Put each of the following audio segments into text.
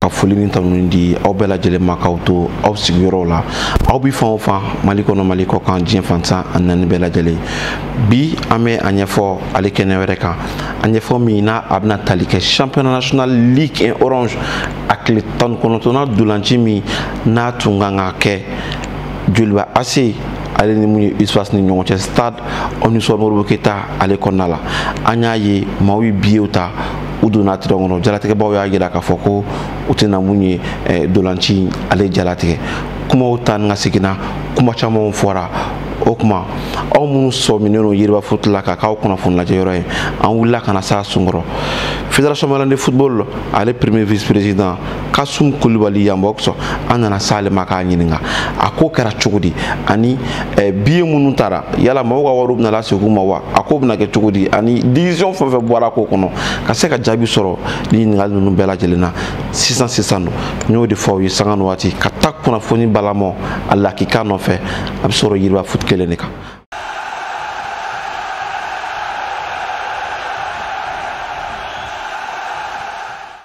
ka foli ni tanuni di aw bɛɛ lajɛlen ma k'aw to aw sigiyɔrɔw la aw bi fan o fan mali kɔnɔ mali kɔ kan diɲɛ fan tan ani naani bɛɛ lajɛlen bi an bɛ a ɲɛfɔ ale kɛnɛ wɛrɛ kan a ɲɛfɔ min n'a a bɛna tali kɛ championnat national ligue un orange a tile tan ni kɔnɔntɔnnan ntolaci min n'a tun kan ka kɛ joliba AC ale ni mun ye USFAS ni ɲɔgɔn cɛ stade omnisports modibo keita ale kɔnɔna la an y'a ye maaw ye biyew ta u donna terrain kɔnɔ jalatigɛbaw y'a jira k'a fɔ ko u tɛna mun ye eh, ntolaci ale jalatigɛ kumaw taa ni ka seginna kuma camanw fɔra o tuma aw minnu sɔminnen don yiriba foot la k'a k'aw kunnafoni lajɛ yɔrɔ ye an wulila ka na s'a sun kɔrɔ fédération malienne de football ale premier vice président kasum kulibali yambox an nana s'ale ma k'a ɲininka a ko kɛra cogo di ani eh, biye minnu tara yala mɔgɔw ka wariw bɛna lase u ma wa a ko bɛna kɛ cogo di ani décision fɛn fɛn bɔra ko kɔnɔ ka se ka jaabi sɔrɔ ni ɲininkali ninnu bɛɛ lajɛlen na sisan sisan don n y'o de fɔ aw ye sanga ni waati ka taa kunnafoni balamɔ a lakika nɔfɛ a bɛ sɔrɔ yiriba foot kelen de kan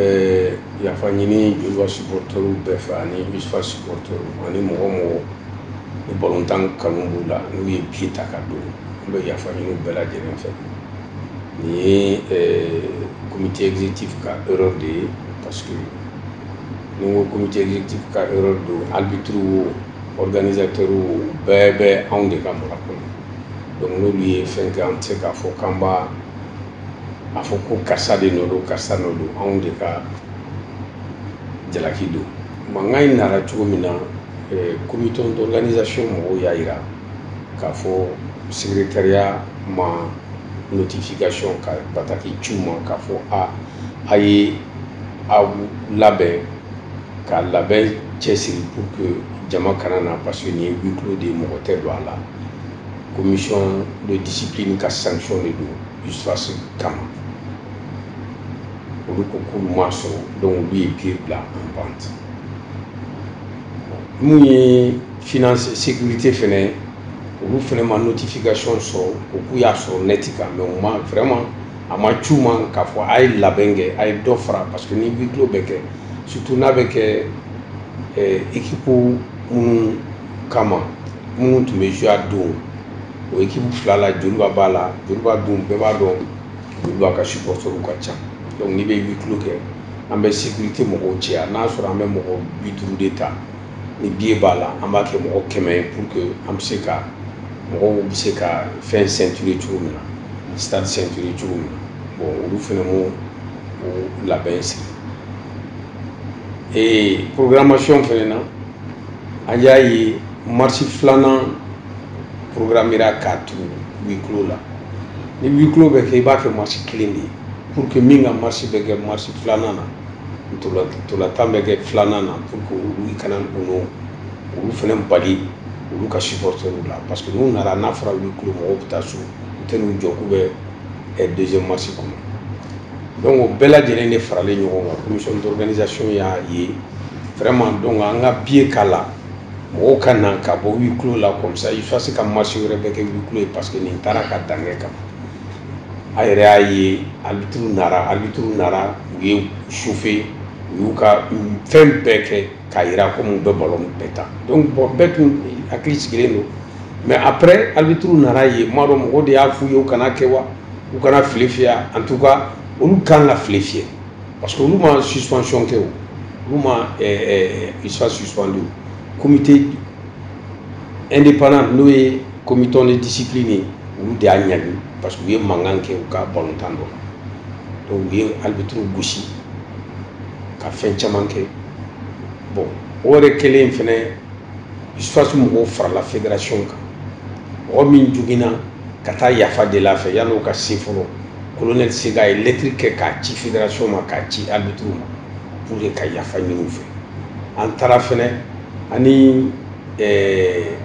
ɛɛ yafa ɲini Joliba supporters bɛɛ fɛ ani USFAS supporters ani mɔgɔ mɔgɔ ni balontan kanu b'u la n'u ye biye ta ka don an bɛ yafa ɲini bɛɛ lajɛlen fɛ nin ye ɛɛ comité exécutif ka erreur de ye parce que ni ko comité exécutif ka erreur don arbitre wo organisateurs wo bɛɛ bɛ anw de ka mara kɔnɔ donc n'olu ye fɛn kɛ an tɛ se k'a fɔ k'an b'a a fɔ ko karisa de nɔ don karisa nɔ don anw de ka jalaki don mankan in nana cogo min na comité eh, d'organisation mɔgɔw y'a jira k'a fɔ secrétariat ma notification ka bataki ci u ma k'a fɔ a a ye aw labɛn ka labɛn cɛsiri pour que jama kana na parce que nin ye huis clos de ye mɔgɔ tɛ don a la commission de discipline ka sanction de don USFAS kama olu ko k'olu m'a sɔrɔ donc olu ye biye bila en vente mun ye finance sécurité fɛnɛ olu fɛnɛ ma notification sɔrɔ ko k'u y'a sɔrɔ net kan mais u ma vraiment a ma c'u ma k'a fɔ a ye labɛn kɛ a ye dɔ fara parce que ni huis clos bɛ kɛ surtout n'a bɛ kɛ ekipu minnu kama minnu tun bɛ jouer don o ekipu fila la joliba b'a la joliba don bɛɛ b'a dɔn joliba ka supporterw ka ca dɔnku n'i bɛ huis clos kɛ an bɛ sekirite mɔgɔw caya n'a sɔrɔ an bɛ mɔgɔ bi duuru de ta ni biye b'a la an b'a kɛ mɔgɔ kɛmɛ ye pour que an bɛ se ka mɔgɔw bɛ se ka fɛn sɛnture cogo min na stade sɛnture cogo min na bon olu fana m'o o labɛn sigi ee programmation fana na an y'a ye marisi filanan programmera k'a to huis clos la ni huis clos bɛ kɛ i b'a kɛ marisi kelen de ye pour que min ka marisi bɛ kɛ marisi filanan na ntolatan bɛ kɛ filanan na pour que olu i kana na olu fana bali olu ka supporter la parce que n'u nana n'a fɔra huis clos mɔgɔw bɛ taa so u tɛ n'u jɔ k'u bɛ deuxième match kɔnɔ donc o bɛɛ lajɛlen de faralen ɲɔgɔn kan commission d'organisation y'a ye vraiment donc an ka biye k'a la mɔgɔw ka na ka bɔ huis clos la comme ça il faut se ka marisi wɛrɛ bɛɛ kɛ huis clos ye parce que nin taara ka dankɛ kan a yɛrɛ y'a ye arbitre nara arbitre nara u y'u chauffer u y'u ka fɛn bɛɛ kɛ k'a jira ko mun bɛ ballon bɛɛ tan donc an bɛɛ tun hakili sigilen don mais après arbitre nana ne m'a dɔn mɔgɔw de y'a f'u ye u kana kɛ wa u kana file fiyɛ en tout cas olu kan ka file fiyɛ parce que olu ma suspension kɛ o olu ma usfas suspendu comité indépendant n'o ye comité de discipline ye olu de y'a ɲangi parce que u ye mankan kɛ u ka balontan dɔ la donc u ye arbitre gosi ka fɛn caman kɛ bon o yɛrɛ kɛlen fɛnɛ usfas mɔgɔw farala fédération kan mɔgɔ min joginna ka taa yafa deli a fɛ yanni o ka se fɔlɔ colonel sega a ye lɛtiri kɛ k'a ci fédération ma k'a ci arbitriw ma pour que ka yafa ɲini u fɛ an taara fɛnɛ ani eh,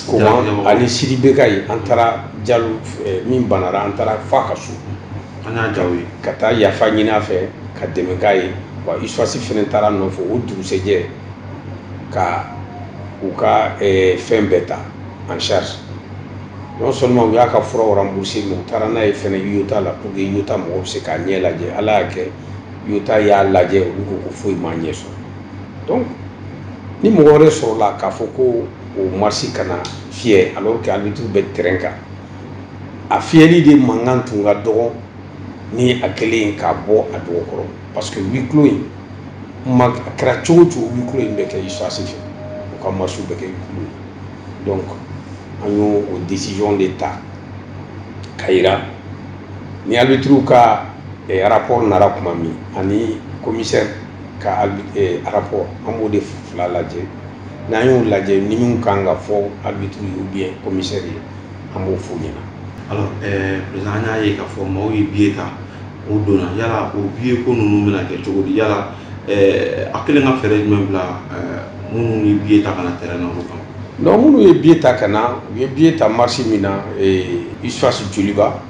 koman ani sidi bekaye an taara jalo eh, min banara an taara f'a ka so an y'a jaw ye ka taa yafa ɲini a fɛ ka dɛmɛ k'a ye wa usfas fana taara nɔfɛ o dugusɛjɛ ka u ka eh, fɛn bɛɛ ta en charge non seulement u y'a ka furaw rembourser mais u taara n'a ye fana iota la pour que iota mɔgɔ bɛ se k'a ɲɛ lajɛ ala y'a kɛ iota y'a lajɛ olu ko ko foyi m'a ɲɛ sɔrɔ donc ni mɔgɔ wɛrɛ sɔrɔla k'a fɔ ko o marisi kana fiyɛ alors que arbitre bɛ terrain kan a fiyɛli de mankan tun ka dɔgɔ ni a kɛlen k'a bɔ a dɔgɔ kɔrɔ parce que huis clos in ma a kɛra cogo o cogo huis clos in bɛ kɛ USFAS fɛ u ka masiw bɛ kɛ huis clos ye donc an y'o o décision de ta k'a yira ni arbitriw ka eh, rapport nara tuma min ani commissaire ka eh, rapport an b'o de fila lajɛ n'an y'o lajɛ ni min kan ka fɔ arbitre ye ou bien commissaire ye an b'o f'u ɲɛna alors ɛɛ président an y'a ye k'a fɔ maaw ye billet ta o donna yala o billet ko ninnu bɛna kɛ cogo di yala ɛɛ a kɛlen ka fɛɛrɛ jumɛn bila ɛɛ minnu ye billet ta ka na terrain na olu kan non minnu ye billet ta ka na u ye billet ta match min na USFAS Joliba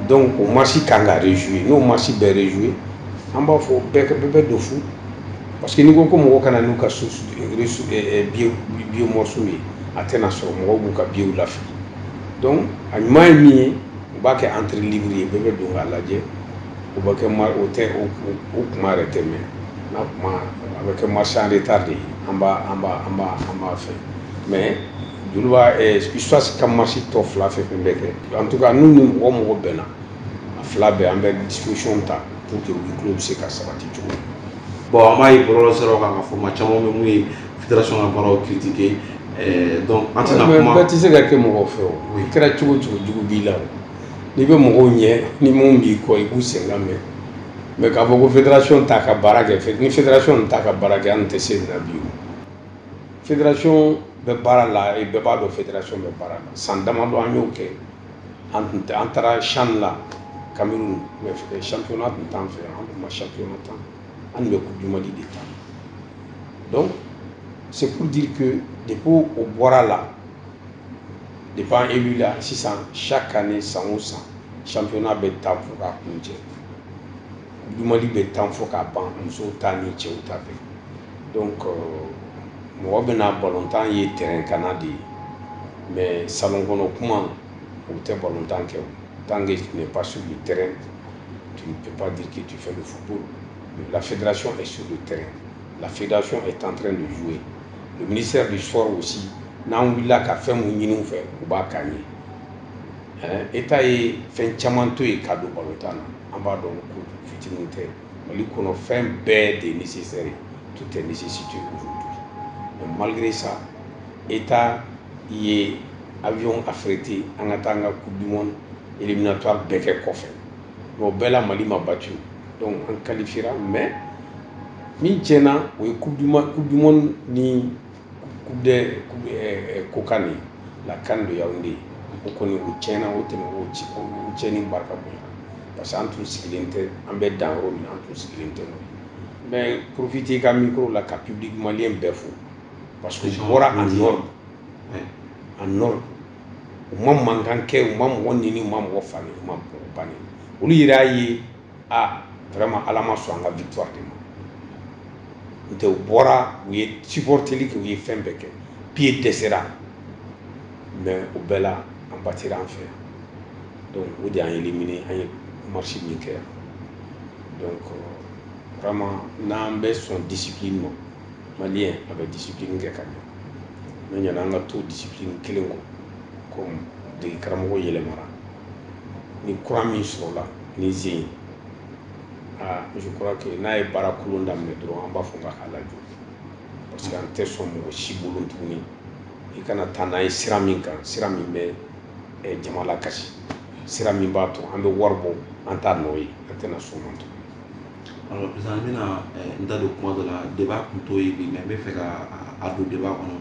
donc o match kan ka rejouer n'o match bɛ rejouer an b'a fɔ bɛɛ bɛ don fu parce que n'i ko ko mɔgɔ ka na n'u ka billet morceau ye a tɛna sɔrɔ mɔgɔw b'u ka billetw lafili donc a ɲuman ye min ye u b'a kɛ entrée libre ye bɛɛ bɛ don k'a lajɛ o bɛ kɛ o tɛ o kuma yɛrɛ tɛ mɛn n'a kuma a bɛ kɛ match en retard de ye an b'a an b'a an b'a an b'a fɛ mais Joliba soit ka match tɔ fila fɛn fɛn bɛ kɛ en tout cas n'u ni mɔgɔ mɔgɔ bɛnna a fila bɛɛ an bɛ disposition ta pour que u bɛ tulon bɛ se ka sabati cogo min bon an b'a ye bɔlɔlɔ siraw kan k'a fɔ maa caman bɛ mun ye fédération ka baaraw critiquer eh, donc an tɛna kuma bɛɛ tɛ se ka kɛ mɔgɔ fɛ o i kɛra cogo o cogo jugu b'i la n'i bɛ mɔgɔw ɲɛ ni min b'i kɔ i b'u senkan mɛn mais k'a fɔ ko fédération t'a ka baara kɛ ni fédération nin t'a ka baara kɛ an tɛ se nin na bi o fédération bɛ baara la bɛɛ b'a dɔn fédération bɛ baara la san damadɔ an y'o kɛ an tun tɛ an taara shan la kamiw santona tun tan fɛ an tun ma santona tan an bɛ ko jumadi de tan dɔn sedi de ko o bɔra la de b'an e wulila la sisan sa ka ni san san sanfɛona bɛ taa fo ka kun cɛ du Mali bɛ tan fo k'a ban musow ta ni cɛw ta bɛɛ donc euh, mɔgɔ bɛna balontan ye terrain kanna de ye mais salon kɔnɔ kuma o tɛ balontan kɛ o tant que tu n'es pas sur le terrain tu ne peux pas dire que tu fais le football la fédération est sur le terrain la fédération est en train de jouer le ministère du sport aussi n'an wulila ka fɛn min ɲini u fɛ u b'a k'an ye état ye fɛn caman to yen ka don balontan na an b'a dɔn ko fitinin tɛ mali kɔnɔ fɛn bɛɛ de nécessaire tout est nécessité aujourd'hui mais malgré ça état ye avion affrété an ka taa an ka coupe du monde éliminatoire bɛɛ kɛ kɔfɛ mais o bɛɛ la mali ma battu donc an qualifiera mais min tiɲɛna o ye coupe du monde ni kokan de la kan de y'aw de ye o kɔni o tiɲɛna o tɛmɛ o ci o tiɲɛni barika bonya parce que an tun sigilen tɛ an bɛ dan yɔrɔ min an tun sigilen tɛ n bɛ profiter ka micro la ka public malien bɛɛ fo parce que u bɔra a nɔ a nɔ u ma mankan kɛ u ma mɔgɔ neni u ma mɔgɔ fa u ma mɔgɔ ba olu yɛrɛ y'a ye aa vraiment ala ma sɔn an ka victoire de ma nɔntɛ u bɔra u ye supporteli kɛ u ye fɛn bɛɛ kɛ billet dɛsɛra mais o bɛɛ la an batira an fɛ yan donc o de y'an éliminer an ye match min kɛ yan donc euh, vraiment n'an bɛ sɔn discipline ma maliyɛn a bɛ discipline kɛ ka ɲɛ mais ɲana an ka to discipline kelen kɔ comme dege karamɔgɔ yɛlɛmara ni kura min sɔrɔla ni zen ye aa je crois que n'a ye baara kolon daminɛ dɔrɔn an b'a fɔ k'a ka lajɔ parce que an tɛ sɔn mɔgɔ si bolo tuguni i kana taa n'a ye sira min kan sira min bɛ eh, jama lakasi sira min b'a to an bɛ wari bɔ an t'a nɔ ye an tɛna sɔn o ma tuguni alors président an bɛna eh, n da don kuma dɔ la débat kun t'o ye bi mais n bɛ fɛ ka a- a don débat kɔnɔ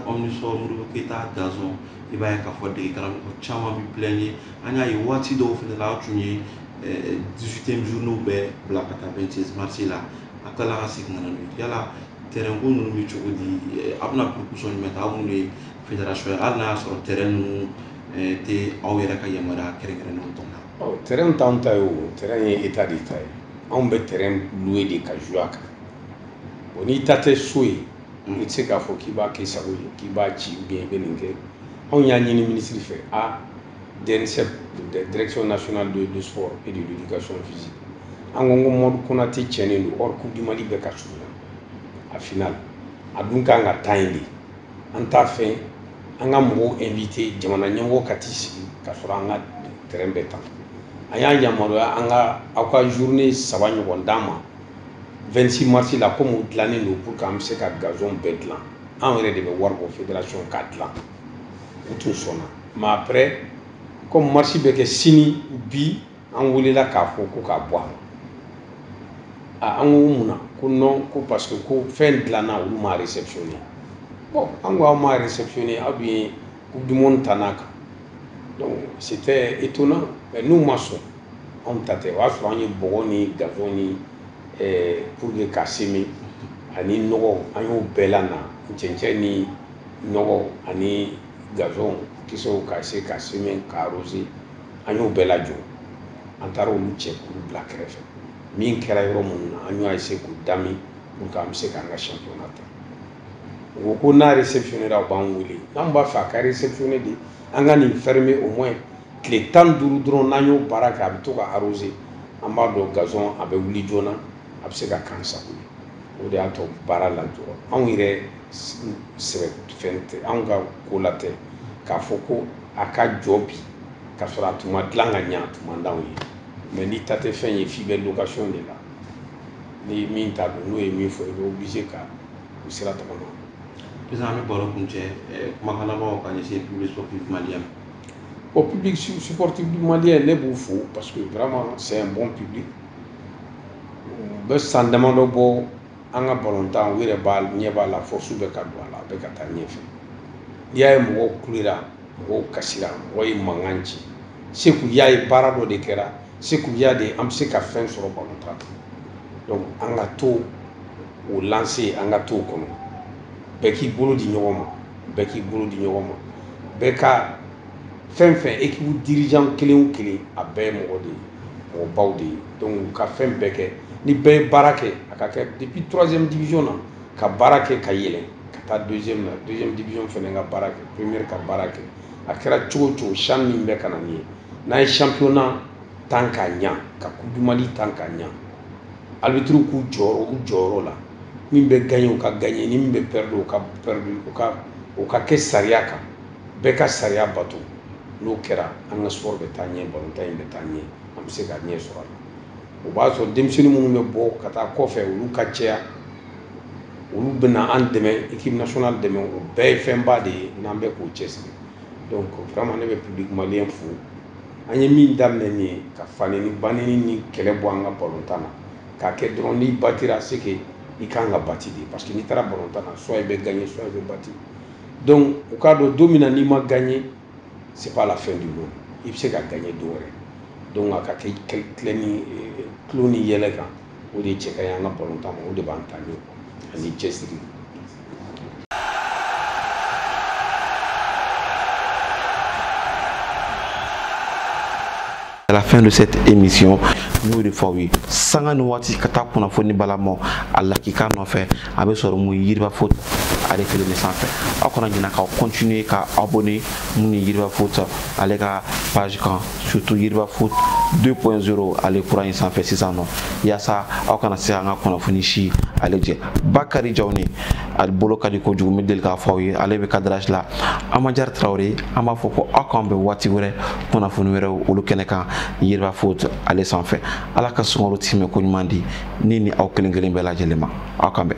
omnisports ta gazon i b'a ye ka fɔ dege karamɔgɔ caman bɛ bila ye an y'a ye waati dɔw fana la tun ye dusute duuru bɛ bila ka taa 26 mars la a ka ka sigi nana yala tɛrɛn ko ninnu bɛ cogo di a bɛna solution jumɛn ta minnu ye fédération ye hali n'a y'a sɔrɔ tɛrɛn ninnu tɛ aw yɛrɛ ka yamaruya kɛrɛnkɛrɛn ninnu tɔn na tɛrɛn t'an ta ye o ye état de ta ye anw bɛ tɛrɛn ye de ka jouer a kan o n'i ta tɛ so ye i tɛ se k'a fɔ k'i b'a k'i sago ye k'i b'a ci ou bien i bɛ nin kɛ anw y'a ɲini minisiri fɛ adressé direction nationale des sports et de l'éducation physique an ko ko mamadou konaté cɛnnen don or coupe du mali bɛ ka surunya finale a dun k'an ka taa yen de an t'a fɛ an ka mɔgɔw inviter jamana ɲɛmɔgɔ ka t'i sigi ka sɔrɔ an ka tɛrɛn bɛ tan a y'an yamaruya an ka aw ka journée saba ɲɔgɔn d'an ma 26 mars la comme o dilannen don pour que an bɛ se ka gazon bɛɛ dilan anw yɛrɛ de bɛ wari bɔ fédération k'a dilan u tun sɔnna mais après comme match bɛ kɛ sini bi an welela k'a fɔ ko k'a bɔ a an ko mun na ko non ko parce que ko fɛn dilanna olu m'a réceptionné bon an ko aw m'a réceptionné aw dun ye coupe du monde tan a kan donc c'était étonnant mais n'u ma sɔn anw ta tɛ o y'a sɔrɔ an ye bɔgɔ ni gazon ni pour que ka semi ani nɔgɔ an y'o bɛɛ lana cɛncɛn ni nɔgɔ ani gazon kisɛw ka se ka semi ka arroser an y'o bɛɛ lajɔ an taara olu cɛ k'u bila kɛrɛfɛ min kɛra yɔrɔ minnu na an y'a se k'u dami pour que an bɛ se k'an ka championnat tan u ko ko n'a réceptionnera u b'an wele n'an b'a fɛ a ka réceptionner de an ka nin fermer au moins tile tan duuru dɔrɔn n'an y'o baara kɛ a bɛ to ka arroser an b'a dɔn gazon a bɛ wuli joona a bɛ se ka kan sago ye o de y'a to baara lajɔ anw yɛrɛ sɛbɛ fɛn tɛ anw ka ko la tɛ k'a fɔ ko a ka jɔ bi ka sɔrɔ a tun ma dilan ka ɲɛ a tun man d'anw ye mais n'i ta tɛ fɛn ye f'i bɛ location de la ni min ta don n'o ye min fɔ i bɛ obligé ka o sira tagama sisan an bɛ baro kuncɛ kumakan labanw ka ɲɛsin public sportif malien ma bon public sportif du malien ne b'u fo parce que vraiment c'est un bon public a bɛ san damadɔ bɔ an ka balontan aw yɛrɛ ɲɛ b'a la force bɛ ka don a la a bɛ ka taa ɲɛfɛ n'i y'a ye mɔgɔw kulera mɔgɔw kasira mɔgɔ ye mankan ci c'est que u y'a ye baara dɔ de kɛra c'est que u y'a dɔn an bɛ se ka fɛn sɔrɔ balontan donc an ka to o lancée an ka to o kɔnɔ bɛɛ k'i bolo di ɲɔgɔn ma bɛɛ k'i bolo di ɲɔgɔn ma bɛɛ ka fɛn fɛn ekipu dirijan kelen kelen a bɛɛ ye mɔgɔ de ye mɔgɔbaw de ye donc ka fɛn bɛɛ kɛ ni bɛɛ ye baara kɛ a ka kɛ depuis troisième division na ka baara kɛ ka yɛlɛ ka taa deuxième na deuxième division fɛnɛ ka baara kɛ première ka baara kɛ a kɛra cogo cogo san min bɛ ka na nin ye n'an ye championnat tan k'a ɲa ka coupe du mali tan k'a ɲa arbitre k'u jɔ u jɔyɔrɔ la min bɛ gagner o ka gagner ni min bɛ perdre o ka perdre o ka kɛ sariya kan bɛɛ ka sariya bato n'o kɛra an ka sport bɛ taa ɲɛ balontan in bɛ taa ɲɛ an bɛ se ka ɲɛ sɔrɔ a la o b'a sɔrɔ denmisɛnnin minnu bɛ bɔ ka taa kɔfɛ olu ka cɛya olu bɛna an dɛmɛ équipe nationale dɛmɛ o bɛɛ ye fɛnba de ye n'an bɛ k'o cɛsiri donc vraiment ne bɛ public malien fo an ye min daminɛ nin ye ka faneni baneni ni kɛlɛ bɔ an ka balontan na k'a kɛ dɔrɔn n'i batira c'est que i ka kan ka bati de parce que n'i taara balontan na soit i bɛ gagner soit i bɛ bati donc u k'a dɔn don min na n'i ma gagner c'est pas la fin du monde i bɛ se ka gagner don wɛrɛ donc a ka kɛ tilɛni tulon ni yɛlɛ kan o de cɛ ka ɲi an ka balontan ma o de b'an talen ani cɛsiri à la fin de cette émission n y'o de fɔ aw ye sanga ni waati ka taa kunnafoni balamaw a lakika nɔfɛ a bɛ sɔrɔ mun yiriba foot ale kelen de sanfɛ aw kana ɲinɛ ka continuer ka abonner mun ye yiriba foot ale ka page kan surtout yiriba foot 2.0 ale kura in sanfɛ sisan nɔ yaasa aw kana se an ka kunnafoni si ale jɛ bakari jawni ale bolo ka di kojugu n bɛ deli k'a fɔ aw ye ale bɛ cadrage la amajari tarawele an b'a fɔ ko aw k'an bɛn waati wɛrɛ kunnafoni wɛrɛw olu kɛnɛ kan yiriba foot ale sanfɛ ala ka sunkalo timɛ k'o ɲuman di ne ni aw kelen kelen bɛɛ lajɛlen ma aw k'an bɛn